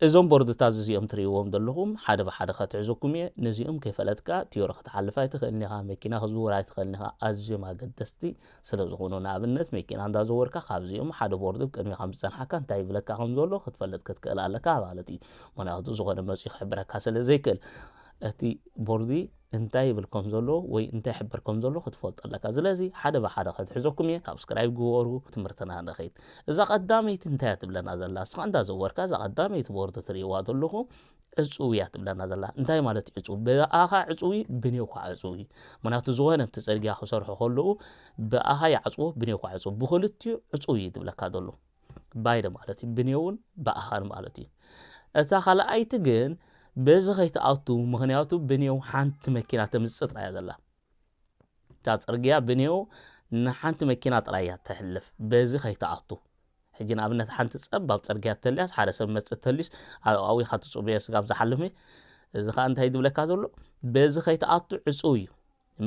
እዞም ቦርድታት እዚኦም ትርእይዎም ዘለኹም ሓደ ብሓደ ከትሕዘኩም እየ። ነዚኦም ከይፈለጥካ ትዮሪ ክትሓልፍ ኣይትኽእልን ኢኻ፣ መኪና ክትዝውር ኣይትኽእልን ኢኻ፣ ኣዝዮም ኣገደስቲ ስለ ዝኾኑ። ንኣብነት መኪና እንዳ ዘወርካ ካብዚኦም ሓደ ቦርድ ቅድሜኻ ምስ ጸንሓካ እንታይ ይብለካ ከም ዘሎ ክትፈልጥ ክትክእል ኣለካ ማለት እዩ። ምኽንያቱ ዝኾነ መጺኡ ክሕብረካ ስለ ዘይክእል እቲ ቦርዲ እንታይ ይብል ከም ዘሎ ወይ እንታይ ይሕብር ከም ዘሎ ክትፈልጦ ኣለካ ዝለዚ ሓደ ብሓደ ከትሕዘኩም እየ ሳብስክራይብ ግበሩ ትምህርትና ንኺድ እዛ ቀዳመይቲ እንታይ እያ ትብለና ዘላ እስኻ እንዳ ዘወርካ እዛ ቀዳመይቲ ቦርድ ትርእይዋ ዘለኹ ዕጹው እያ ትብለና ዘላ እንታይ ማለት እዩ ዕጹው ብኣኻ ዕጹው እዩ ብኔው ኳ ዕጹው እዩ ምክንያቱ ዝኾነ ብቲ ጽርግያ ክሰርሑ ከለዉ ብኣኻ ይዓጽዎ ብኔው ኳ ዕጹው ብክልቲኡ ዕጹው እዩ ትብለካ ዘሎ ባይደ ማለት እዩ ብኔውን ብኣሃን ማለት እዩ እታ ካልኣይቲ ግን በዚ ከይትኣቱ ምክንያቱ ብኔው ሓንቲ መኪና ተምፅእ ጥራያ ዘላ እታ ፅርግያ ብኔው ንሓንቲ መኪና ጥራያ ተሕልፍ በዚ ከይትኣቱ ሕጂ ንኣብነት ሓንቲ ፀባብ ፅርግያ ተልያስ ሓደ ሰብ መፅእ ተልዩስ ኣብኣዊ ካትፅቡየ ስጋብ ዝሓልፍ እዚ ከዓ እንታይ ዝብለካ ዘሎ በዚ ከይትኣቱ ዕፁው እዩ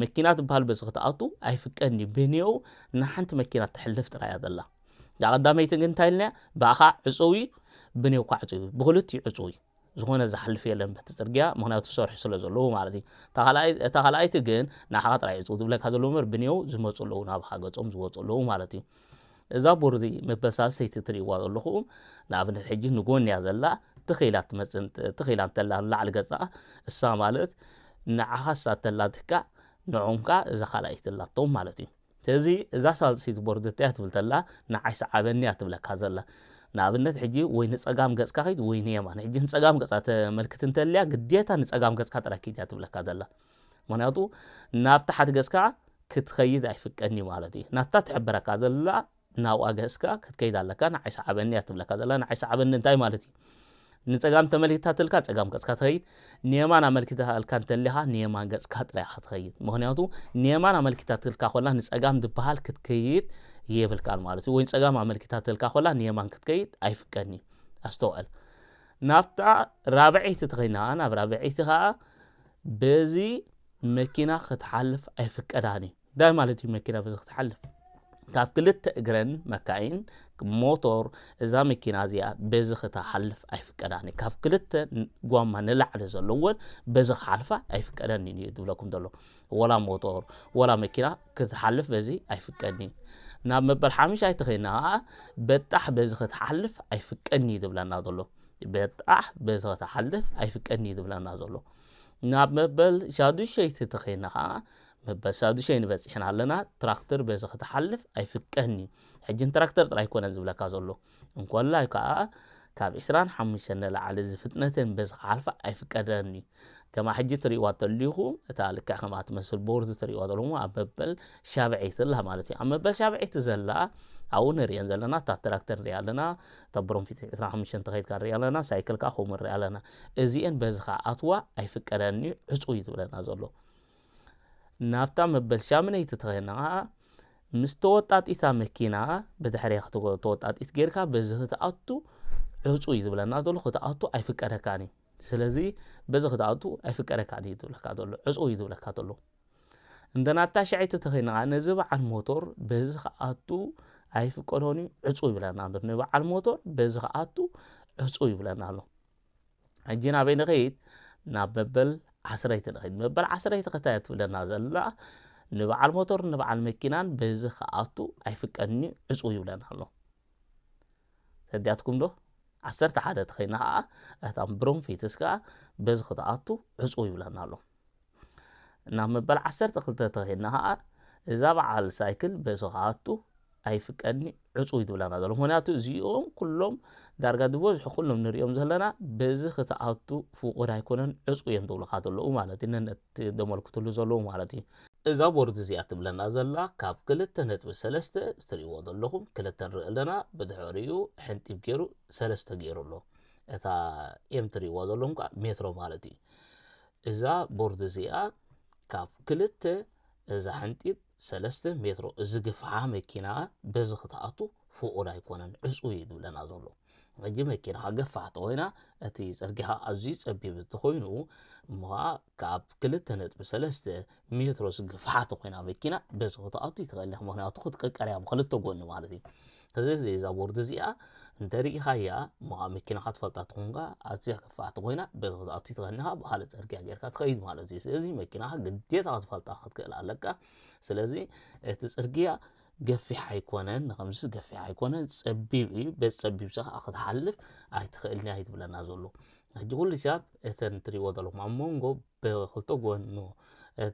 መኪና ትበሃል በዚ ክትኣቱ ኣይፍቀድን እዩ ብኔኡ ንሓንቲ መኪና ትሕልፍ ጥራይ እያ ዘላ እዛ ቀዳመይቲ ግን እንታይ ኢልና ብኣኻ ዕፁው እዩ ብኔውካ ዕፁው እዩ ብክልቲኡ ዕፁው እዩ ዝኾነ ዝሓልፍ የለን በቲ ፅርግያ ምክንያቱ ሰርሑ ስለ ዘለዎ ማለት እዩ እታ ካልኣይቲ ግን ንዓኻ ጥራይ ዕፁው ዝብለካ ዘለዎ ምበር ብኔው ዝመፁ ኣለዉ ናብኻ ገፆም ዝወፁ ኣለዉ ማለት እዩ እዛ ቦርዚ መበሳሰይቲ ትርእይዋ ዘለኹም ንኣብነት ሕጂ ንጎን እያ ዘላ ትኽኢላ ትመፅን ትኽኢላ እንተላ ንላዕሊ ገፃ እሳ ማለት ንዓኻ እሳ ተላትካ ንዖም ከዓ እዛ ካልኣይቲ ኣላቶም ማለት እዩ ስለዚ እዛ ሳልሲት ቦርድ እንታይ ትብል ተላ ንዓይ ሰዓበኒ እያ ትብለካ ዘላ ንኣብነት ሕጂ ወይ ንፀጋም ገፅካ ኸይድ ወይ ንየማን ሕጂ ንፀጋም ገፃ ተመልክት እንተልያ ግዴታ ንፀጋም ገፅካ ጥራይ ኪድ እያ ትብለካ ዘላ ምኽንያቱ ናብታ ሓድገስካ ክትኸይድ ኣይፍቀድንዩ ማለት እዩ ናታ ትሕብረካ ዘላ ናብኣ ገስካ ክትከይድ ኣለካ ንዓይ ሰዓበኒ እያ ትብለካ ዘላ ንዓይ ሰዓበኒ እንታይ ማለት እዩ ንፀጋም ተመልኪታ ትልካ ፀጋም ገፅካ ትኸይድ ንየማን ኣመልኪታ እልካ እንተሊኻ ንየማን ገፅካ ጥራይ ኢኻ ትኸይድ ምክንያቱ ንየማን ኣመልኪታ ትልካ ኮላ ንፀጋም ዝበሃል ክትከይድ የብልካን ማለት እዩ ወይ ፀጋም ኣመልኪታ ትልካ ኮላ ንየማን ክትከይድ ኣይፍቀድን እዩ ኣስተውዕል ናብታ ራብዐይቲ ትኸይድና ናብ ራብዐይቲ ከዓ በዚ መኪና ክትሓልፍ ኣይፍቀዳን እዩ እንታይ ማለት እዩ መኪና በዚ ክትሓልፍ ካብ ክልተ እግረን መካይን ሞቶር እዛ መኪና እዚኣ በዚ ክተሓልፍ ኣይፍቀዳን ካብ ክልተ ጓማ ንላዕሊ ዘለዎን በዚ ክሓልፋ ኣይፍቀደን እዩ ዝብለኩም ዘሎ ወላ ሞቶር ወላ መኪና ክትሓልፍ በዚ ኣይፍቀድን እዩ ናብ መበል ሓምሻይ ተኸይና ከዓ በጣሕ በዚ ክትሓልፍ ኣይፍቀድን እዩ ዝብለና ዘሎ በጣሕ በዚ ክትሓልፍ ኣይፍቀድን እዩ ዝብለና ዘሎ ናብ መበል ሻዱሸይቲ ተኸይና ከዓ መበል ሻዱሸይ ንበፂሕና ኣለና ትራክተር በዚ ክትሓልፍ ኣይፍቀድን እዩ ሕጂ ንትራክተር ጥራይ ኮነን ዝብለካ ዘሎ እንኮላይ ከዓ ካብ ዕስራን ሓሙሽተን ንላዕሊ ዝፍጥነተን በዚ ክሓልፋ ኣይፍቀደን እዩ ከማ ሕጂ ትርእይዋ ተልኩም እታ ልክዕ ከምኣ ትመስል ቦርድ ትርእይዋ ተልኩም ኣብ መበል ሻብዐይቲ ኣላ ማለት እዩ ኣብ መበል ሻብዐይቲ ዘላ ኣብኡ ንርእየን ዘለና እታ ትራክተር ንሪኣ ኣለና እታ ብሮንፊት 25 ተኸይድካ ንሪኣ ኣለና ሳይክል ከዓ ከምኡ ንሪኣ ኣለና እዚአን በዚ ከዓ ኣትዋ ኣይፍቀደን እዩ ዕፁ እዩ ዝብለና ዘሎ ናብታ መበል ሻምነይቲ ተኸይድና ከዓ ምስ ተወጣጢታ መኪና ብድሕሪያ ተወጣጢት ጌርካ በዚ ክትኣቱ ዕፁ እዩ ዝብለና ዘሎ ክትኣቱ ኣይፍቀደካን እዩ ስለዚ በዚ ክትኣቱ ኣይፍቀደካን እዩ ዝብለካ ዘሎ ዕጹው እዩ ዝብለካ ዘሎ እንተ ናብታ ሸዐይቲ ተኸይንኻ ነዚ በዓል ሞቶር በዚ ክኣቱ ኣይፍቀዶን እዩ ዕጹው ይብለና ኣሎ ንበዓል ሞቶር በዚ ክኣቱ ዕጹው ይብለና ኣሎ ሕጂ ናበይ ንኸይድ ናብ መበል ዓስረይቲ ንኸይድ መበል ዓስረይቲ ከታይ ትብለና ዘላ ንበዓል ሞቶር ንበዓል መኪናን በዚ ክኣቱ ኣይፍቀድን እዩ ዕጹው ይብለና ኣሎ ተዲያትኩም ዶ ዓሰርተ ሓደ ተኸይና ከዓ እታ ብሮንፊትስ ከዓ በዚ ክትኣቱ ዕፁ ይብለና ኣሎ እና መበል ዓሰርተ ክልተ ተኸይና ከዓ እዛ በዓል ሳይክል በዚ ክኣቱ ኣይፍቀድኒ ዕፁ ይትብለና ዘሎ ምክንያቱ እዚኦም ኩሎም ዳርጋ ዝበዝሑ ኩሎም ንሪኦም ዘለና በዚ ክትኣቱ ፍቁድ ኣይኮነን ዕፁ እዮም ትብልካ ዘለዉ ማለት እዩ ነነት እቲ ዘመልክትሉ ዘለዉ ማለት እዩ። እዛ ቦርድ እዚኣ ትብለና ዘላ ካብ ክልተ ነጥቢ ሰለስተ እትርእይዎ ዘለኹም ክልተ ንርኢ ኣለና ብድሕሪኡ ሕንጢብ ገይሩ ሰለስተ ገይሩ ኣሎ እታ ኤም ትርእይዋ ዘለኹም ከዓ ሜትሮ ማለት እዩ እዛ ቦርድ እዚኣ ካብ ክልተ እዛ ሕንጢብ ሰለስተ ሜትሮ እዚ ግፍሓ መኪና በዚ ክትኣቱ ፍቑድ ኣይኮነን ዕፁ እዩ ዝብለና ዘሎ ሕጂ መኪናኻ ገፋሕ ተኾይና እቲ ጽርግያ ኣዝዩ ጸቢብ እንተኾይኑ እሞ ኸኣ ካብ ክልተ ነጥቢ ሰለስተ ሜትሮ ስግፍሓት ተኾይና መኪና በዚ ክትኣቱ ይትኽእል ኢኻ ምክንያቱ ክትቅቀር እያ ብክልተ ጎኒ ማለት እዩ ስለዚ እዛ ቦርድ እዚኣ እንተርኢኻያ እሞ ኸኣ መኪናኻ ትፈልጣ ትኾንካ ኣዝያ ገፋሕቲ ኮይና በዚ ክትኣቱ ይትኽእል ኢኻ ብኻለ ጽርግያ ጌርካ ትኸይድ ማለት እዩ ስለዚ መኪናኻ ግዴታ ክትፈልጣ ክትክእል ኣለካ ስለዚ እቲ ጽርግያ ገፊሕ ኣይኮነን ንኸምዚ ገፊሕ ኣይኮነን ጸቢብ እዩ ቤት ጸቢብ ከዓ ክትሓልፍ ኣይትኽእልን እያ ይትብለና ዘሎ ሕጂ ኩሉ ሂሳብ እተን ትሪእዎ ዘለኹም ኣብ መንጎ ብክልተ ጎኑ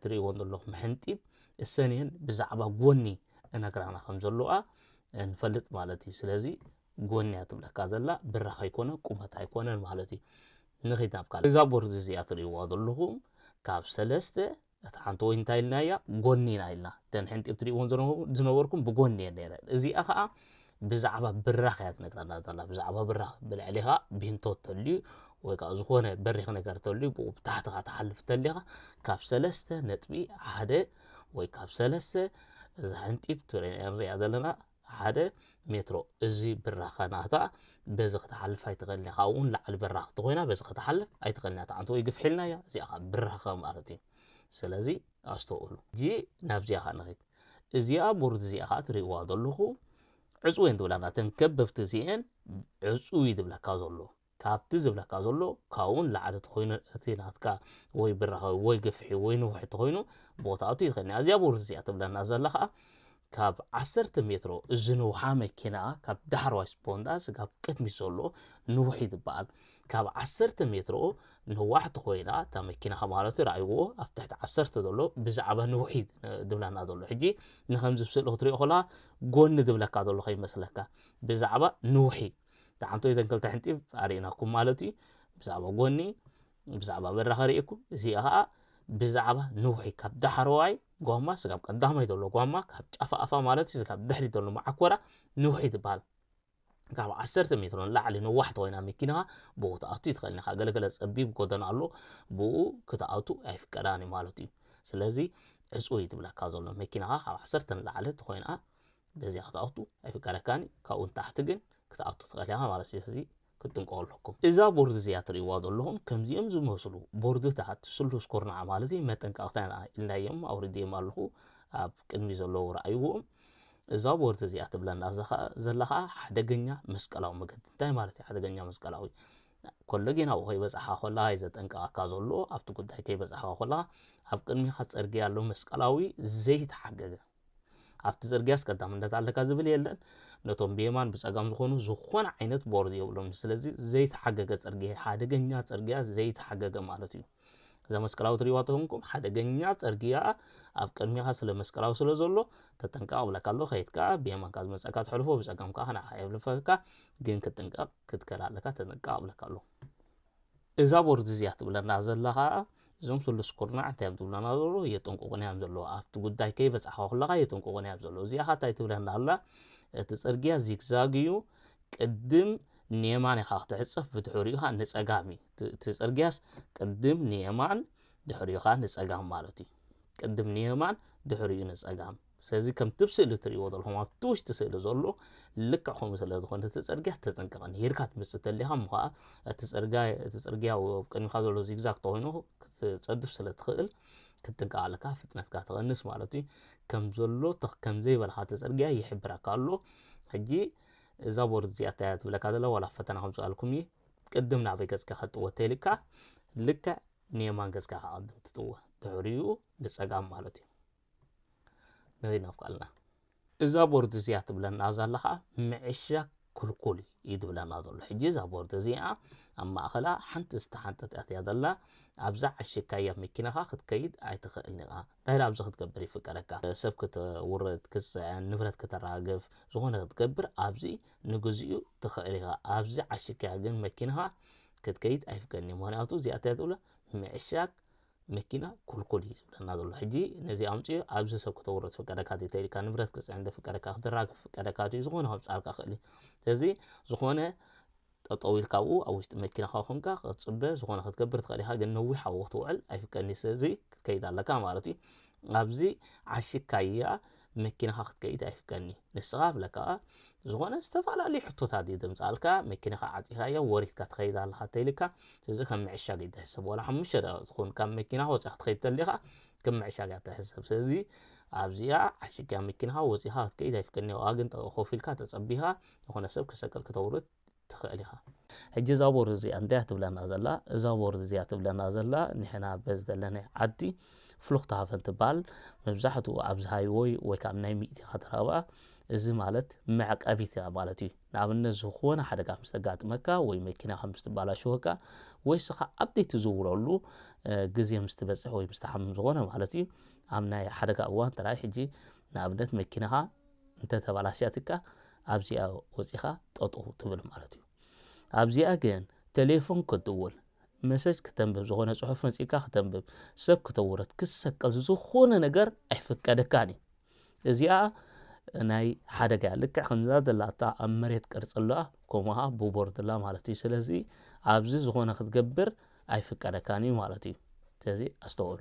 ትሪእዎን ዘለኹም ሕንጢብ እሰን እየን ብዛዕባ ጎኒ እነግራና ከም ዘለዋ ንፈልጥ ማለት እዩ ስለዚ ጎኒ እያ ትብለካ ዘላ ብራኽ ኣይኮነ ቁመት ኣይኮነን ማለት እዩ ንኺድ ናብ ካልእ እዛ ቦርድ እዚኣ ትሪእዋ ዘለኹም ካብ ሰለስተ እታ ሓንቲ ወይን እንታይ ኢልናያ ጎኒ ኢና ኢልና እተን ሕንጢብ ትሪእዎን ዝነበርኩም ብጎኒ እየን ነይረን እዚኣ ከዓ ብዛዕባ ብራኽ እያ ትነግረና ዘላ ብዛዕባ ብራኽ ብልዕሊኻ ቢንቶ ተልዩ ወይ ከዓ ዝኾነ በሪኽ ነገር ተልዩ ብኡ ብታሕትኻ ትሓልፍ ተሊኻ ካብ ሰለስተ ነጥቢ ሓደ ወይ ካብ ሰለስተ እዛ ሕንጢብ ንሪኣ ዘለና ሓደ ሜትሮ እዚ ብራኸ ናታ በዚ ክትሓልፍ ኣይትኽእልን ኢኻ ካብኡ እውን ላዕሊ ብራኽ እንተኾይና በዚ ክትሓልፍ ኣይትኽእልን እያ ተዓንቶ ወይ ግፍሒልና እያ እዚኣ ከዓ ብራኸ ማለት እዩ ስለዚ ኣስተውእሉ እዚ ናብዚኣ ከዓ ንኸይድ እዚኣ ቦርድ እዚኣ ከዓ ትርእዋ ዘለኹ ዕፅወን ትብላና እተን ከበብቲ እዚአን ዕፁይ ዝብለካ ዘሎ ካብቲ ዝብለካ ዘሎ ካብኡ ንላዕሊ ተኾይኑ እቲ ናትካ ወይ ብራኸ ወይ ግፍሒ ወይ ንውሒ ተኾይኑ ቦታኡ ይኸኒ ኣዚያ ቦርድ እዚኣ ትብለና ዘላ ከዓ ካብ ዓሰርተ ሜትሮ ዝንውሓ መኪና ካብ ዳሕረዋይ ስፖንዳ ስጋብ ቅድሚት ዘሎ ንውሒ ዝበሃል ካብ ዓሰርተ ሜትሮ ንዋሕቲ ኮይና እታ መኪናኻ ማለት ርኣይዎ ኣብ ትሕቲ ዓሰርተ ዘሎ ብዛዕባ ንውሒ ድብለና ዘሎ ሕጂ ንከምዚ ስእሊ ክትሪኦ ከለካ ጎኒ ድብለካ ዘሎ ከይመስለካ ብዛዕባ ንውሒ ዳዓምቶ እተን ክልተ ሕንጢፍ ኣሪኢናኩም ማለት እዩ ብዛዕባ ጎኒ ብዛዕባ በራኸ ሪኢኩም እዚኣ ከዓ ብዛዕባ ንውሒ ካብ ዳሕረዋይ ጓማ ስጋብ ቀዳማይ ዘሎ ጓማ ካብ ጫፋ ኣፋ ማለት እዩ ስጋብ ድሕሪ ዘሎ መዓኮራ ንውሒ ትበሃል ካብ ዓሰርተ ሜትሮ ንላዕሊ ነዋሕቲ ኮይና መኪናኻ ብኡ ክትኣቱ ይትኽእል ኢኻ ገለገለ ፀቢብ ጎደና ኣሎ ብኡ ክትኣቱ ኣይፍቀዳን እዩ ማለት እዩ ስለዚ ዕፁ እዩ ትብለካ ዘሎ መኪናኻ ካብ ዓሰርተ ንላዕሊ ተኮይና በዚኣ ክትኣቱ ኣይፍቀደካን እዩ ካብኡ ንታሕቲ ግን ክትኣቱ ትኽእል ኢኻ ማለት እዩ እዚ ክትጥንቀቑ ኣለኩም እዛ ቦርድ እዚኣ ትርእይዋ ዘለኹም ከምዚኦም ዝመስሉ ቦርድታት ስሉስ ኩርናዕ ማለት እዩ መጠንቀቕታ ኢልናዮም ኣውርድዮም ኣለኹ ኣብ ቅድሚ ዘለዉ ረኣይዎም እዛ ቦርድ እዚኣ ትብለና ዘላ ከዓ ሓደገኛ መስቀላዊ መገዲ እንታይ ማለት እዩ ሓደገኛ መስቀላዊ ከሎ ጌና ኣብኡ ከይበፅሓ ኮላ እዩ ዘጠንቀቐካ ዘሎ ኣብቲ ጉዳይ ከይበፅሓ ኮላ ኣብ ቅድሚኻ ፅርግያ ኣሎ መስቀላዊ ዘይተሓገገ ኣብቲ ጽርግያስ ቀዳምነት ኣለካ ዝብል የለን ነቶም ብየማን ብጸጋም ዝኾኑ ዝኾነ ዓይነት ቦርድ የብሎም ስለዚ ዘይተሓገገ ጽርግያ ሓደገኛ ጽርግያ ዘይተሓገገ ማለት እዩ እዛ መስቀላዊ ትሪዋ ተኾንኩም ሓደገኛ ጽርግያ ኣብ ቅድሚኻ ስለ መስቀላዊ ስለ ዘሎ ተጠንቀቕ ብለካ ኣሎ ከይትካ ብየማንካ ዝመጸካ ትሕልፎ ብጸጋምካ ንዓ የብልፈካ ግን ክትጥንቀቕ ክትከል ኣለካ ተጠንቀቕ ብለካ ኣሎ እዛ ቦርድ እዚኣ ትብለና ዘላ ከኣ እዞም ስሉስ ኩርናዕ እንታይ እዮም ዝብሉና ዘለዉ የጥንቁቑና እዮም ዘለዉ ኣብቲ ጉዳይ ከይበጻሕካ ከለካ የጥንቁቑና እዮም ዘለዉ እዚኣ ከኣ እንታይ ትብለና ኣላ እቲ ጽርግያ ዚግዛግ እዩ ቅድም ንየማን ኢኻ ክትዕጸፍ ብድሕሪኡ ኸኣ ንጸጋም እዩ እቲ ጽርግያስ ቅድም ንየማን ድሕሪኡ ኸኣ ንጸጋም ማለት እዩ ቅድም ንየማን ድሕሪኡ ንጸጋም ስለዚ ከምቲ ብ ስእሊ ትርእይዎ ዘለኹም ኣብቲ ውሽጢ ስእሊ ዘሎ ልክዕ ከምኡ ስለ ዝኾነ እቲ ጽርግያ ተጠንቀቐ ንሂርካ ትመጽእ ተሊኻ እሞ ኸኣ እቲ ጽርግያ እቲ ጽርግያ ኣብ ቅድሚኻ ዘሎ ዚግዛግ ተኾይኑ ክትጸድፍ ስለ ትኽእል ክትጥንቀቕ ኣለካ ፍጥነትካ ትቐንስ ማለት እዩ ከም ዘሎ ከም ዘይበልኻ እቲ ጽርግያ ይሕብረካ ኣሎ ሕጂ እዛ ቦርድ እዚኣ እታይ እያ ትብለካ ዘላ ዋላ ፈተና ከምጽኣልኩም እዩ ቅድም ናበይ ገጽካ ከጥወ ተይልካ ልክዕ ንየማን ገጽካ ከቐድም ትጥወ ድሕሪኡ ንጸጋም ማለት እዩ ነዚ ናፍቃልና እዛ ቦርድ እዚኣ ትብለና ዛላ ከዓ ምዕሻግ ክልኩል እዩ ትብለና ዘሎ ሕጂ እዛ ቦርድ እዚኣ ኣብ ማእኸላ ሓንቲ ዝተሓንጠት ኣትያ ዘላ ኣብዛ ዓሽካያ መኪናኻ ክትከይድ ኣይትኽእል ኒኻ እንታይ ኣብዚ ክትገብር ይፍቀደካ ሰብ ክትውርድ ክትፅዕን ንብረት ከተራግፍ ዝኾነ ክትገብር ኣብዚ ንግዚኡ ትኽእል ኢኻ ኣብዚ ዓሽካያ ግን መኪናኻ ክትከይድ ኣይፍቀድን እዩ ምክንያቱ እዚኣ እንታይ ትብሎ ምዕሻግ መኪና ኩልኩል እዩ ዝብለና ዘሎ ሕጂ ነዚ ኣምፅኡ ኣብዚ ሰብ ክተውሮ ትፍቀደካ ቴተ ኢልካ ንብረት ክፅዕን ደፍቀደካ ክትራገፍ ፍቀደካ ድዩ ዝኾነ ከብፃልካ ክእል ስለዚ ዝኾነ ጠጠው ኢልካ ኣብኡ ኣብ ውሽጢ መኪናኻ ኮንካ ክትፅበ ዝኾነ ክትገብር ትኽእል ኢኻ ግን ነዊሕ ኣብኡ ክትውዕል ኣይፍቀድን እዩ ስለዚ ክትከይድ ኣለካ ማለት እዩ ኣብዚ ዓሽካያ መኪናኻ ክትከይድ ኣይፍቀድኒ ንስኻ ብለካ ዝኾነ ዝተፈላለዩ ሕቶታት እዩ ዘምፃልካ መኪናኻ ዓፂኻዮ ወሪትካ ትኸይድ ኣለኻ ተይልካ እዚ ከም ምዕሻግ እዩ ትሕሰብ ዋላ ሓሙሽተ ደቂቕ ትኹን ካብ መኪናኻ ወፂኻ ክትኸይድ ተሊኻ ከም ምዕሻግ እያ ትሕሰብ ስለዚ ኣብዚኣ ዓሽግካ መኪናኻ ወፂኻ ክትከይድ ኣይፍቀድኒ ዋላ ግን ኮፍ ኢልካ ተፀቢኻ ዝኾነ ሰብ ክሰቅል ክተውርድ ትክእል ኢካ። ሕጂ እዛ ቦርድ እዚኣ እንታይ እያ ትብለና ዘላ? እዛ ቦርድ እዚኣ ትብለና ዘላ ንሕና በዚ ዘለናይ ዓዲ ፍሉክትሃፈን ትበሃል መብዛሕትኡ ኣብዚ ሃይወይ ወይ ከዓ ናይ ሚእቲኻ ትረኽባ እዚ ማለት መዕቀቢት እያ ማለት እዩ። ንኣብነት ዝኾነ ሓደጋ ምስ ተጋጥመካ ወይ መኪናኻ ምስ ትበላሸወካ ወይ ስኻ ኣብዴት ትዝውረሉ ግዜ ምስ ትበፅሕ ወይ ምስ ትሓምም ዝኾነ ማለት እዩ ኣብ ናይ ሓደጋ እዋን ጥራይ ሕጂ ንኣብነት መኪናኻ እንተ ተባላሽያትካ ኣብዚኣ ወጺኻ ጠጠው ትብል ማለት እዩ። ኣብዚኣ ግን ተሌፎን ክትድውል፣ መሰጅ ክተንብብ፣ ዝኾነ ጽሑፍ መጺእካ ክተንብብ፣ ሰብ ክተውርድ፣ ክትሰቀል ዝኾነ ነገር ኣይፍቀደካን እዩ። እዚኣ ናይ ሓደጋ ልክዕ ከምዛ ዘላታ ኣብ መሬት ቅርጺ ኣለዋ ከምኡ ኸዓ ብቦርድ ኣላ ማለት እዩ ስለዚ ኣብዚ ዝኾነ ክትገብር ኣይፍቀደካን እዩ ማለት እዩ ስለዚ ኣስተውዕሉ